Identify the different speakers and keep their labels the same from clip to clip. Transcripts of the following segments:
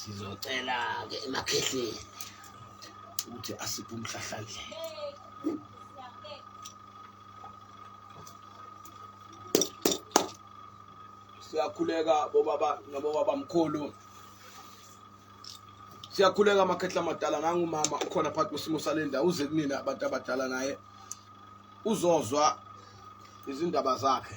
Speaker 1: sizocela-ke emakhehleni ukuthi asiphe umhlahlandlela siyakhuleka bobaba nabobaba mkhulu siyakhuleka amakhehla amadala nangumama ukhona phakathi kwesimo sale ndawo uze kunina abantu abadala naye uzozwa izindaba zakhe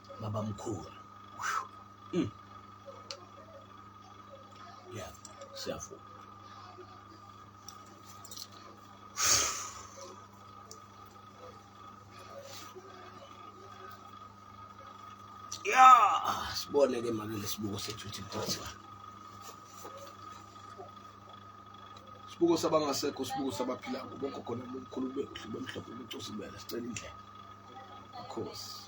Speaker 1: baba mkhulu mm. yeah siyavuma yeah sibone ke manje lesibuko sethu ukuthi kuthiwa sibuko sabangasekho sibuko sabaphila ngoba ugogo nomkhulu bekuhle bemhlophe ubucosi bela sicela indlela of course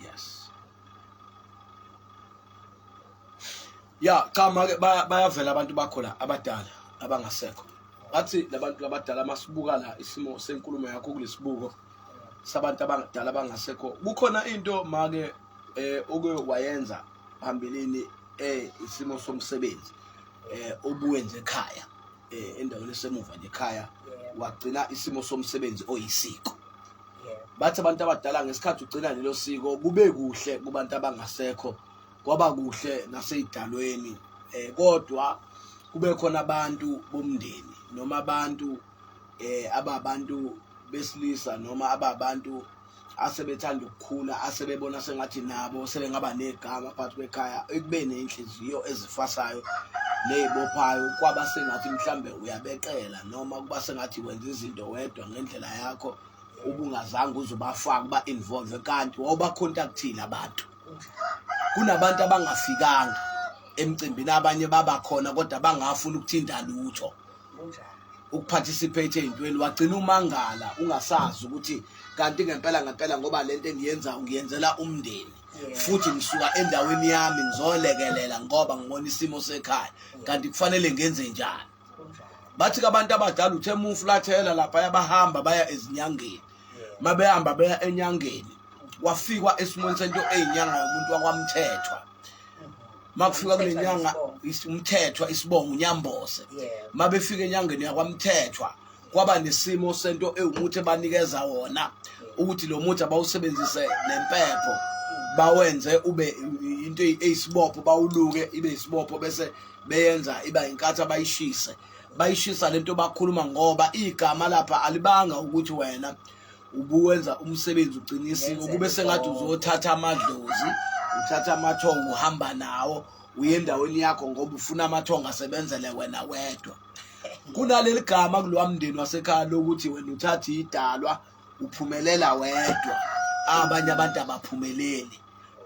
Speaker 1: yes ya cha make bayavela abantu bakho la abadala abangasekho ngathi labantu abadala masibuka la isimo senkulumo yakho kulesibuko sabantu abadala abangasekho kukhona into make eh oke wayenza phambilini eh isimo somsebenzi eh obuwenze ekhaya eh, endaweni esemuva nje ekhaya wagcina isimo somsebenzi oyisiko bathi abantu abadala ngesikhathi ugcina lelo siko kube kuhle kubantu abangasekho kwaba kuhle naseyidalweni eh kodwa kube khona abantu bomndeni noma abantu eh ababantu besilisa noma ababantu asebethanda ukukhula asebebona sengathi nabo sebengaba negama phakathi kwekhaya ekube nenhliziyo ezifasayo neyibophayo kwaba sengathi mhlambe uyabeqela noma kuba sengathi wenza izinto wedwa ngendlela yakho ubungazange uzubafaka uba involve kanti wawubacontactile abantu kunabantu abangafikanga emcimbini abanye babakhona kodwa bangafuni ukuthinta lutho ukuparticipate ey'ntweni wagcina umangala ungasazi ukuthi kanti ngempela ngempela ngoba le nto engiyenza ngiyenzela umndeni futhi ngisuka endaweni yami ngizolekelela ngoba ngibona isimo sekhaya kanti kufanele ngenze njani bathi kabantu abadala uthe mufulathela lapha yabahamba baya ezinyangeni mabehamba beya enyangeni wafikwa esimweni sento eyinyanga yomuntu wakwamthethwa makufika kule nyanga umthethwa isibongo unyambose mabefika enyangeni yakwamthethwa kwaba nesimo sento ewumuthi banikeza wona ukuthi lo muthi abawusebenzise nempepho mm. bawenze ube into eyisibopho bawuluke ibe isibopho bese beyenza iba inkathi abayishise bayishisa lento bakhuluma ngoba igama lapha alibanga ukuthi wena ubuwenza umsebenzi ugcina isiko kube sengathi uzothatha amadlozi uthatha amathongo uhamba nawo uye endaweni yakho ngoba ufuna amathongo asebenzele wena wedwa kunaleli gama kulowa mndeni wasekhaya lokuthi wena uthatha idalwa uphumelela wedwa abanye abantu abaphumeleli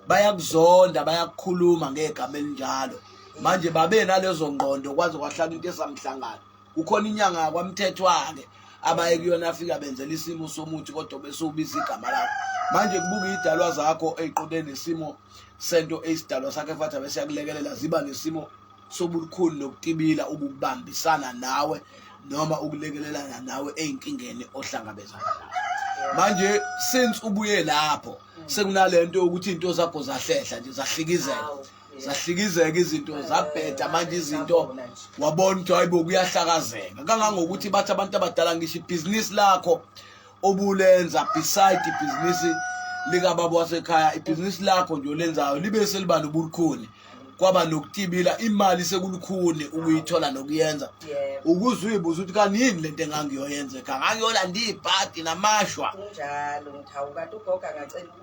Speaker 1: bayakuzonda bayakukhuluma ngegama elinjalo manje babe nalezo ngqondo kwaze kwahlala into esamhlangano kukhona inyanga yakwamthethwa-ke abaye kuyona afika benzela isimo somuthi kodwa bese ubiza igama lakho manje kubuka iy'dalwa zakho ey'qonde nesimo sento eyisidalwa sakhe fathi abe siyakulekelela ziba nesimo sobukhulu nokutibila ukubambisana nawe noma ukulekelelana nawe ey'nkingeni ohlangabezana nazo manje since ubuye lapho sekunale nto yokuthi iy'nto zakho zahlehla nje zahlikizela zahlikizeka izinto zabheda manje izinto wabona ukuthi hayibo kuyahlakazeka kangangokuthi bathi abantu abadala ngisho ibhizinisi lakho obulenza beside ibhizinisi likababa wasekhaya ibhizinisi lakho nje olenzayo libe seliba nobukhuni kwaba nokutibila imali sekulukhuni ukuyithola nokuyenza ukuze uyibuza ukuthi kanti yini le nto engangiyoyenza ekhaya ngangiyolanda iy'bhadi namashwa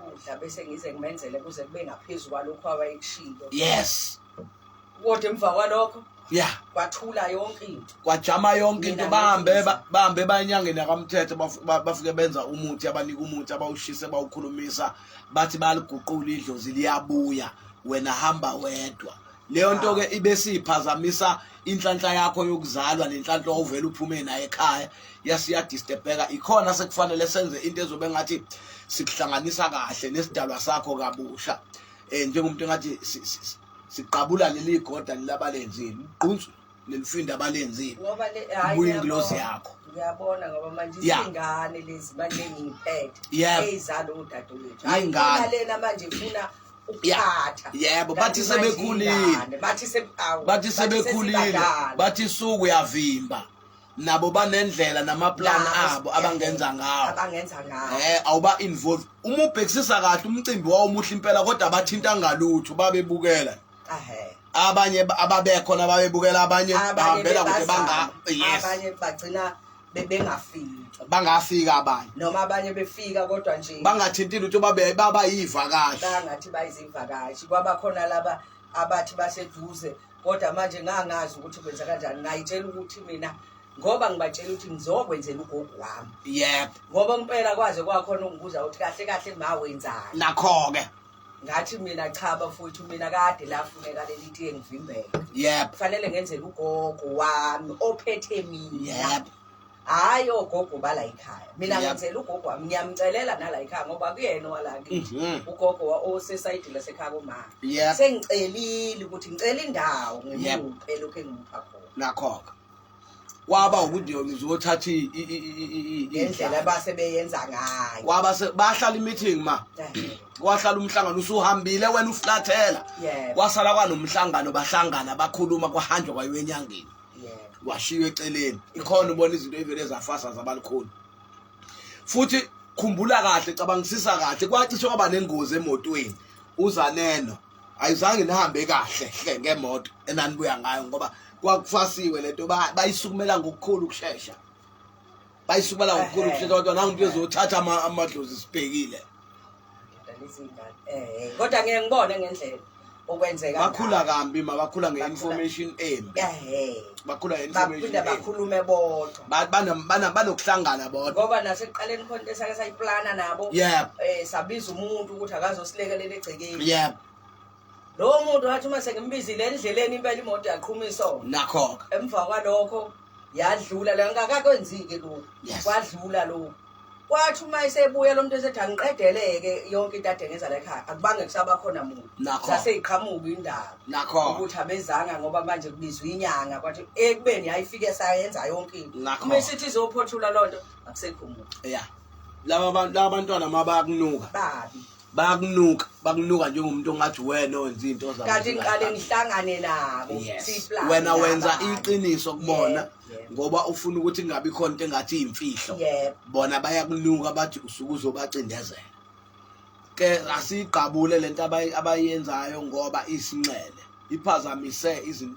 Speaker 2: ukudla bese ngize ngimenzele kuze kube ngaphezu kwalokhu awayekushilo
Speaker 1: yes kodwa
Speaker 2: emva kwalokho ya kwathula
Speaker 1: yonke into
Speaker 2: kwajama yonke into
Speaker 1: bahambe bahambe bayanyangeni akamthetho bafike benza umuthi abanika umuthi abawushise bawukhulumisa bathi baliguqula idlozi liyabuya wena hamba wedwa leyo nto ke ibe siphazamisa inhlanhla yakho yokuzalwa nenhlanhla ovela uphume naye ekhaya yasiya disturbeka ikhona sekufanele senze into ezobe ngathi sikuhlanganisa kahle nesidalwa sakho kabusha eh njengomuntu engathi siqabula leli goda lilabalenzile uqhunsu lelifinda abalenzile ngoba le hayi Ubuye ngiyabona.
Speaker 2: ingilosi
Speaker 1: yakho. ngiyabona ngoba
Speaker 2: manje Ya. izingane lezi manje ngiphethe Yebo. eyizalo udadewethu hayi Iy'ngane. khona lena
Speaker 1: manje ifuna
Speaker 2: Ya. ukuphatha Yebo, Kanti bathi manje
Speaker 1: sebekhulile. iy'ngane, bathi se- awu, bathi sebekhulile sesibadala. bathi suku uyavimba nabo banendlela namaplan Ya, abo yes, abangenza ngawo abangenza ngawo eh awuba involved uma ubhekisisa kahle umcimbi wawo muhle impela kodwa abathinta ngalutho babebukela abanye ababekho nababebukela abanye bahambela kude banga yes abanye
Speaker 2: bagcina bebengafiki bangafika
Speaker 1: abanye noma abanye befika
Speaker 2: kodwa nje bangathinti lutho babe
Speaker 1: baba yivakashi bangathi
Speaker 2: bayizivakashi kwaba khona laba abathi baseduze kodwa manje ngangazi ukuthi kwenza kanjani ngayitshela ukuthi mina ngoba ngibatshela ukuthi ngizokwenzela ugogo wami yebo ngoba impela kwaze kwakhona ungibuza ukuthi kahle kahle ma wenzani nakho-ke
Speaker 1: ngathi mina
Speaker 2: cha bafowethu mina kade lafuneka leli tiye ngivimbele yep kufanele ngenzele ugogo wami ophethe mina yep hhayi ogogo bala yikhaya mina ngenzela ugogo wami ngiyamcelela nala yikhaya ngoba kuyena owala kithi mhm. ugogo osesayidini lasekhaya koma sengicelile ukuthi ngicela indawo ngimuphe lokhu engimupha khona nakho-ke
Speaker 1: kwaba ukuthi yona izothatha indlela
Speaker 2: base beyenza ngayo kwaba bahlala
Speaker 1: imeeting ma kwahlala umhlangano usuhambile wena uflathela kwasala kwanomhlangano bahlangana bakhuluma kwahanjwa kwayo enyangeni washiywa eceleni ikhona ubona izinto evele zafasa zabalikhulu futhi khumbula kahle cabangisisa kahle kwacishe kwaba nengozi emotweni uzaneno ayizange nihambe kahle hle ngemoto enanibuya ngayo ngoba kwakufasiwe lento bayisukumela ngokukhulu ukushesha bayisukumela ngokukhulu ukushesha kodwa nangu umuntu ezothatha amadlozi sibhekile eh,
Speaker 2: kodwa ngeke ngibone ngendlela okwenzeka bakhula kambi
Speaker 1: mabakhula nge-information embi bakhula nge-information bakhulume bodwa
Speaker 2: Ba- bana- bana- banokuhlangana
Speaker 1: bodwa ngoba nasekuqaleni khona
Speaker 2: into esake sayiplana nabo yebo um sabiza umuntu ukuthi akazosilekelela egcekeni yebo lowo muntu wathi uma sengimbizile endleleni impela imoto yaqhuma isona nakho-ke emva
Speaker 1: kwalokho
Speaker 2: yadlula la ngakakwenzi-ke lokhu Yes. kwadlula lokhu kwathi uma esebuya lo muntu esethi angiqedeleke yonke into ade ngenza la ekhaya akubange kusaba khona muntu Nakho. saseyiqhamuka indaba nakho ukuthi abezanga ngoba manje kubizwa inyanga kwathi ekubeni yayifike sayenza yonke into Nakho. uma isithi izophothula loo nto akusekho muntu ya laba bantu
Speaker 1: laba bantwana uma bayakunuka babi bayakunuka bakunuka njengomuntu ongathi wena owenza izinto zakho kanti ngiqale ngihlangane
Speaker 2: nabo Yes. siyiplane wena
Speaker 1: wenza nabanye. iqiniso kubona ngoba ufuna ukuthi kungabi khona into engathi iyimfihlo bona bayakunuka bathi usuke uzobacindezela ke asiyigqabule lento abayenzayo ngoba isinxele iphazamise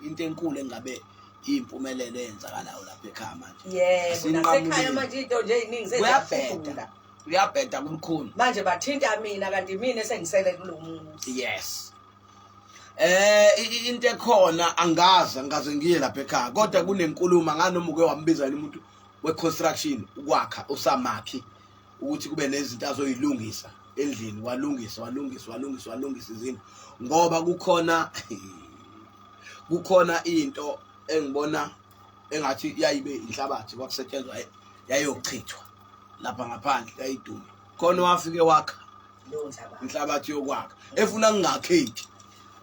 Speaker 1: into enkulu engabe impumelelo eyenzakalayo lapha ekhaya manje yebo nasekhaya manje
Speaker 2: into nje eziningi zeziyabheda uyabheda
Speaker 1: kumkhulu manje bathinta
Speaker 2: mina kanti mina esengisele kulo muntu yes eh
Speaker 1: into ekhona angazi angaze ngiye lapha ekhaya kodwa kunenkulumo nganoma uke wambiza umuntu we construction ukwakha usamakhi ukuthi kube nezinto azoyilungisa endlini walungisa walungisa walungisa walungisa izinto ngoba kukhona kukhona into engibona engathi yayibe inhlabathi kwakusetshenzwa yayochithwa lapha ngaphandle yayiduma khona wafike wakha leyo nhlabathi inhlabathi yokwakha efuna kungakheki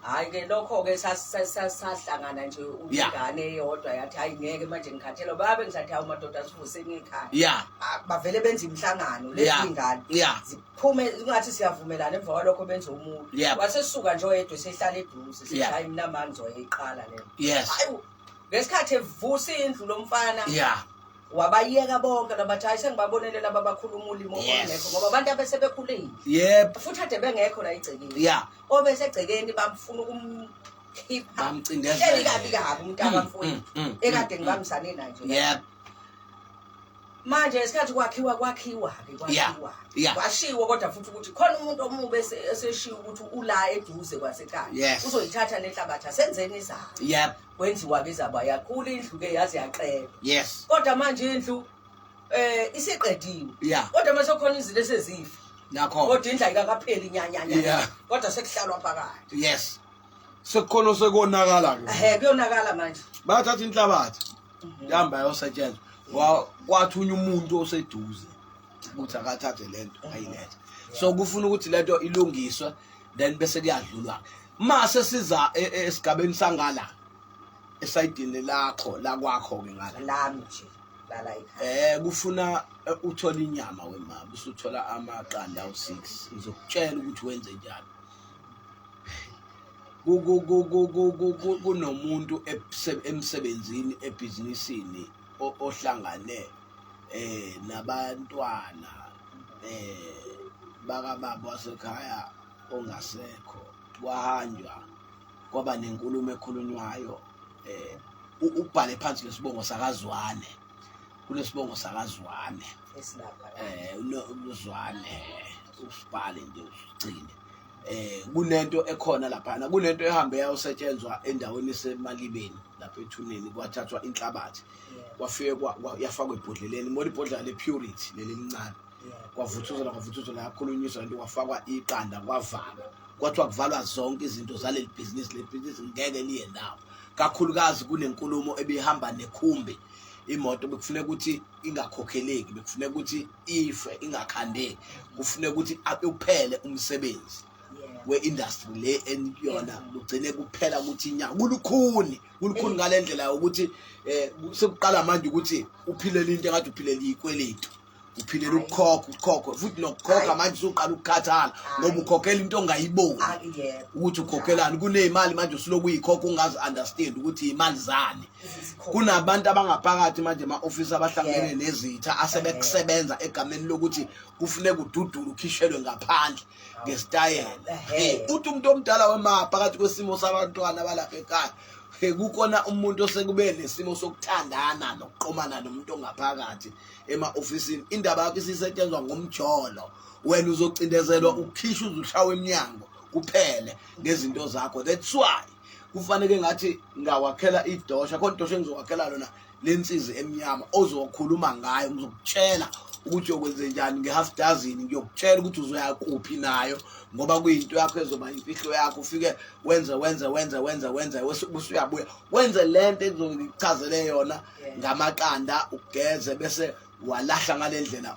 Speaker 1: hayi
Speaker 2: ke lokho-ke sas- sas- sas- sahlangana nje Yeah. ingane eyodwa yathi hayi ngeke manje ngikhathelwa babe ngisathi hawu madoda sivuseni ikhaya ya Ah, bavele benze imihlangano lezi Yeah. ingane ya ziphume kungathi siyavumelana emva kwalokho benze umuntu Yeah. wasesuka nje oyedwa esehlala eduze sithi Yeah. hayi mina mani ngizoyiqala lena yes hayi ngesikhathi evusa indlu lomfana ya wabayeka bonke labathi hayi sengibabonele laba bakhulu umulimo Yes. ongekho ngoba abantu abesebekhulile yebo futhi ade bengekho la egcekeni ya obesegcekeni bamfuna ukumkhipha Bamcindezela. Hleli
Speaker 1: kabi kabi umntaka
Speaker 2: Mm, mfowethu mm, mm, ekade mm, ngibambisane naye nje yebo manje ngesikhathi kwakhiwa kwakhiwa-ke Yeah, kwakhiwa yeah. kwashiwo kodwa futhi ukuthi khona umuntu omubi ese- eseshiwo ukuthi ula eduze kwasekhaya Yes. uzoyithatha nenhlabathi asenzeni izayo yebo kwenziwa ke zaba yakhula indlu ke yaze yaqela yes kodwa manje indlu eh isiqediwe yeah kodwa mase khona izinto esezifa nakho kodwa indla
Speaker 1: ikakapheli
Speaker 2: nyanyanya yeah. kodwa sekuhlalwa phakathi yes sekukhona
Speaker 1: sekonakala ke ehe kuyonakala manje
Speaker 2: bathatha inhlabathi
Speaker 1: mhm. ihamba yosetshenzwa kwathunya umuntu oseduze ukuthi akathathe lento ayilethe so kufuna ukuthi lento ilungiswe then bese kuyadlulwa mase siza e, e, esigabeni sangala esayidini lakho la kwakho ke ngala lami nje
Speaker 2: lala ekhaya eh kufuna eh,
Speaker 1: uthola inyama wemama usuthola amaqanda u6 ngizokutshela ukuthi wenze njani kunomuntu emsebenzini ebhizinisini ohlangane eh nabantwana eh bakababa wasekhaya ongasekho kwahanjwa kwaba nenkulumo ekhulunywayo eh ubhale phansi lesibongo sakazwane kunesibongo sakazwane
Speaker 2: esilapha eh unozwane
Speaker 1: usibhale nje usigcine eh kunento ekhona lapha kunento ehambe yayosetshenzwa endaweni esemalibeni lapha ethuneni kwathathwa inhlabathi kwafekwa yafakwa ebhodleleni moli ibhodlela le purity leli lincane kwavuthuzela kwavuthuzela yakhulunyiswa lento kwafakwa iqanda kwavalwa kwathiwa kuvalwa zonke izinto zaleli bhizinisi le bhizinisi ngeke liye ndawo kakhulukazi kunenkulumo ebihamba nekhumbi imoto bekufuneka ukuthi ingakhokheleki bekufuneka ukuthi ife ingakhandeki kufuneka ukuthi uphele umsebenzi we-industry le eniyona lugcine kuphela ukuthi inyanga kulukhuni kulukhuni ngale ndlela yokuthi um sekuqala manje ukuthi uphilele into engathi uphilele ikweletu uphindela ukukhokha ukhokhe futhi nokukhokha manje usuqala ukukhathala ngoba ukhokhela into ongayiboni ah, ukuthi ukhokhelani kunemali manje usuloku uyikhokha ungazi understand ukuthi imali zani kunabantu abangaphakathi manje ama office abahlangene nezitha asebekusebenza egameni lokuthi kufune kududula ukhishelwe ngaphandle ngesitayela uthi umuntu omdala wemapha phakathi kwesimo sabantwana balapha ekhaya kukona umuntu osekube nesimo sokuthandana nokuqomana nomuntu ongaphakathi ema-ofisini indaba yakho isisetshenzwa ngomjolo wena uzocindezelwa ukukhisha uzushawa emnyango kuphele ngezinto zakho that's why kufanele ngathi ngawakhela idosha khona idosha engizowakhela lona lensizi emnyama ozokhuluma ngayo ngizokutshela ukuthi yokwenze njani nge-half dozen ngiyokutshela ukuthi uzoya kuphi nayo ngoba kuyinto yakho ezoba imfihlo yakho ufike wenze wenze wenze wenze wenze usuyabuya wenze le nto ezochazelele yona ngamaqanda ugeze bese walahla ngalendlela